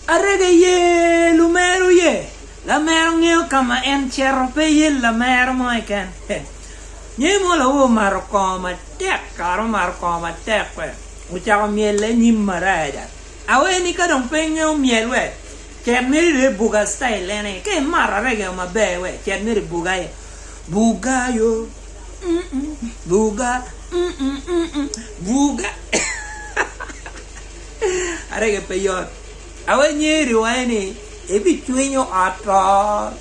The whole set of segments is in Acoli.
Arega iye lumero ye? Lamero ngeyo ka ma en cito, pe iye lamero mo keken. Ngeyi mo lawe omato kongo matek, kara omato kongo matek we ocako myelle nyim maraja. Awer ni ka dong pe ingeyo myel we cet meri dong ibuga style en aye. Ka imato arega yo maber we cet meri ibuga aye. Buga yo mm mm, buga mm mm, buga. Arege pe yot. Awe nyer i wange ni ebicwinyo ot to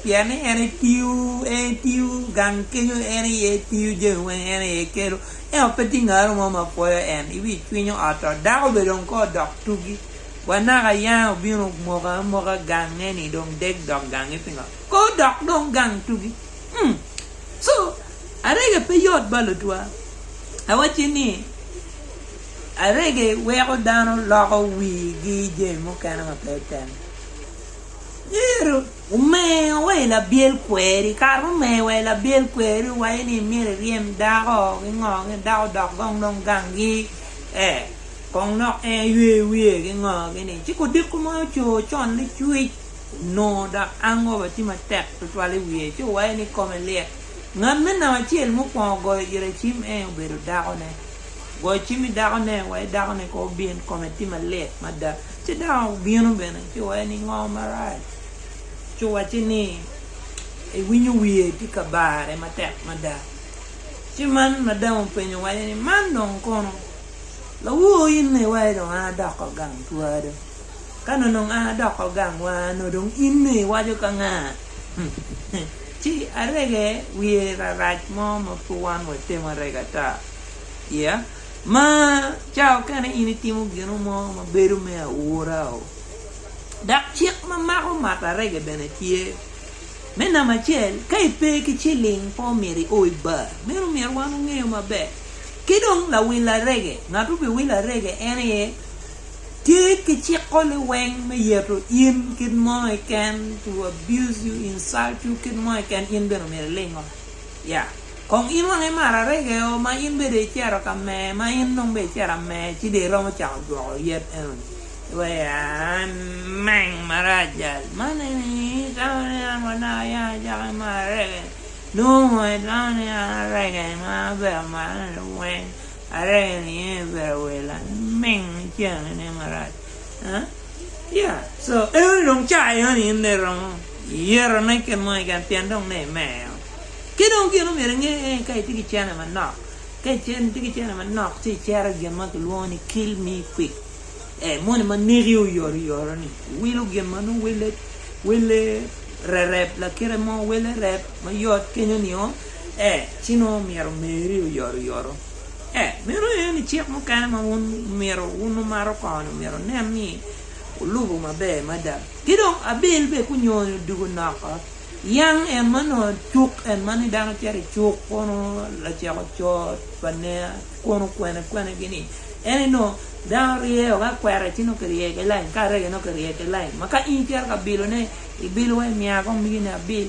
pien ni en aye tiyo, en aye tiyo gang kenyo, en aye tiyo jami weng en aye kelo. Ento pe tye ngaro mo ma pwoyo en. Ebicwinyo ot to. Dako bene dong kong odok tugi. Wa naka yanga obino omoka amoka gange ni dong deg dok gangi pingo? Kong odok dong gang tugi. Umm. So, Arege pe yot bal otwa. Awacci ni. Arege weko dano loko wigi i jami mukene ma pe otemo. Myero omer wa i labyel kweri. Kare ma omer wa i labyel kweri owaco ni myero iryem dako ki ngo ni dako odok gong dong gangi ee kong lok en ywe wiye ki ngo kini ci kodiko ma oco con licwic onongo dok hangover tye matek tutwal i wiye ci owaco ni kome lit. Ngat me namba acel mukwongo goyo Iracim en obedo dakone. Goyo cim i dakone wek dakone kong obin, kome tye malit mada. Ci dako obino bene ci owaco ni, 'Ngo marac? Ci owacci ni, 'Iwinyo wiye tye ka bare matek mada. Ci man madam openyo wacce ni, 'Man dong kono? Lawor in aye iwaco dong an adoko gang twaa do? Ka nongo ononga doko gangwa, nongo dong in-ni iwaco ka nga? Ci arege wiye rarac mo ma pud wan watemo arege ata iye. Ma ca okene in itimo gino mo ma bedo me aura-o. Dok cik ma mako mato arege bene tye. Me namba acel, ka ipe ki ciling pe omyero io i bar. Meno omyero wan wangeyo maber. Ki dong lawil arege, ngat ma obiwilo arege en aye. Ki kiciko liweng me yeto in kit mo keken, to abuse you, insult you kit mo keken, in bene omyero ilingo. Yeah. Kong in wang imaro arege o ma in bede icero ka Meya ma in nong bene icero ameya ci dong iromo cako jwoko yet enoni. Wee ameng marac jal man eni tamo ni an wa naka ya acako imaro arege ni? Nongo watamo ni an arege ma abedo amarone weng. Arenge niye pero awer laming ceng niye marac yeah so enoni dong caa enoni in dong iromo yeto ne kit mo keken pien dong ne imeo ki dong gin omyero inge aye ka itye ki cene manok ka itye ki cene manok ci icero i gin ma kilwongo ni kill me quick ee moni ma neki oyoto yoto ni iwilo gin ma nongo wele rereb lakite mo wele rereb mayot kenyo nio ee, ci nongo myero meri oyot oyoto. Ee, meno aye ni cik mukene ma wun myero wun wumato koni myero wunen ni wulubo maber mada. Ki dong, Abel bene kunyoni odugo noko, yam en ma nongo cuk, en ma ni dano cito i cuk kono laceko coo pa nea kono kwene kwene gi ni, en aye nongo dano ryeo ka kwera ci nongo kiryeyo ki lain, ka arege nongo kiryeyo ki lain. Ma ka in icito ka bilo ne, ibilowa imiya akombigi ni abil.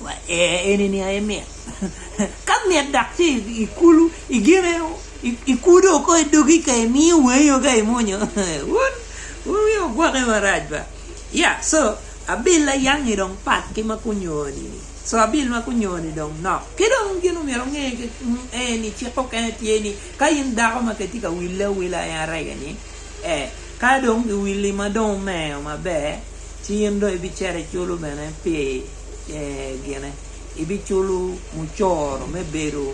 Wa ee eni ni aye mit. Ka mit dok ci i kulu i gine i kudo oko i dogi ka i miyo wangi o ka i munyo wun wun wiu ogwoke marac ba ya so abil ayangi dong pat ki ma kunyowa ni ni so abil ma kunyowa ni dong nok ki dong gin omyero onge ee ni cik mukene tye ni ka in dako ma ke tye ka wille awila en arege ni ee. Ka dong giwilli ma dong wumeyo maber, ci in dong ibicito iculo bene pi gine, ibiculo mucoro me bedo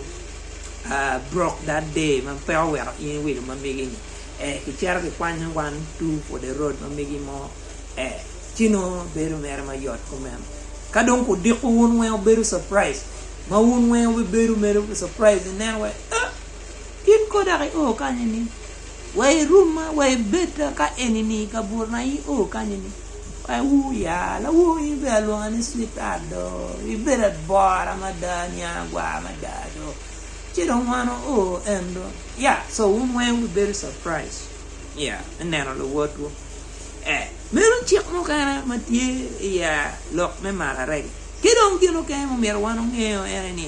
broke that day ma pe oweko in iwilo ma megi-ni, ee, kicito kikwanyo one two for the road ma megi mo, ee, ci nongo bedo mere ma yot kumeno. Ka dong kudiko wun weng wubedo surprise, ma wun weng wubibedo mere surprise ineno wai, ee, in kong dok io kany-ni? Wa i room ma wa i bed ka enini i kabuto na in o kany ni wa i ur ya lawor in be alwonga ni sweet heart do i bed abora mada niang agwar mada do ci dong wan wa o en do ya so wun weng wu bi bedo surprise ya me neno luwot wu eh meno cik mukene ma tye i ya lok me mararegi ki dong gin mukene ma omyero wan ongeyo en ni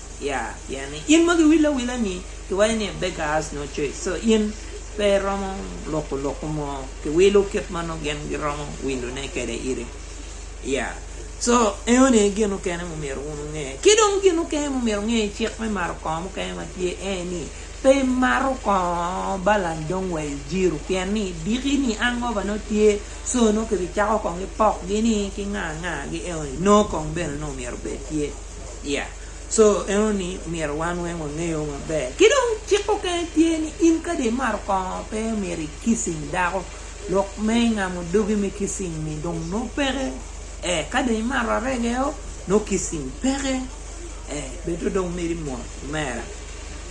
ya pien ni in ma giwile awila ni giwaco ni a beggar has no choice so in pe iromo loko loko mo kiwilo kit ma nongo gin giromo windu ne kede iri ya so eno ni gin mukene ma omyero wun wunge ki dong gin mukene ma omyero wunge i cik me mato kongo mukene ma tye ene ni pe imato kongo balany dong wa ijiro pien ni idiki ni hangover nongo tye so nongo kibicako kong gipok gi ni ki nga nga gi eno ni no kong bene nongo myero obed tye. Yeah so eno ni myero wan weng wangeyo maber ki dong cik mukene tye ni in kadi imato kongo pe myero i kissing dako lok me ngamo dogi me kissing ni dong nongo peke eh ka dong imato arege o nongo kissing peke eh bedo dong mito imot kumera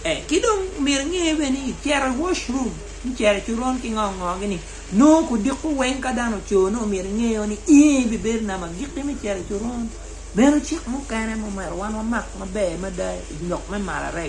eh ki dong myero inge bene ni icito i wash room me cito i coron ki ngo ngo gini nongo kudiko weng ka dano oco nongo myero ingeyo ni i bibedo nama giki me cito i coron. Meno cik mukene ma omyero wan wamak maber mada i lok me marare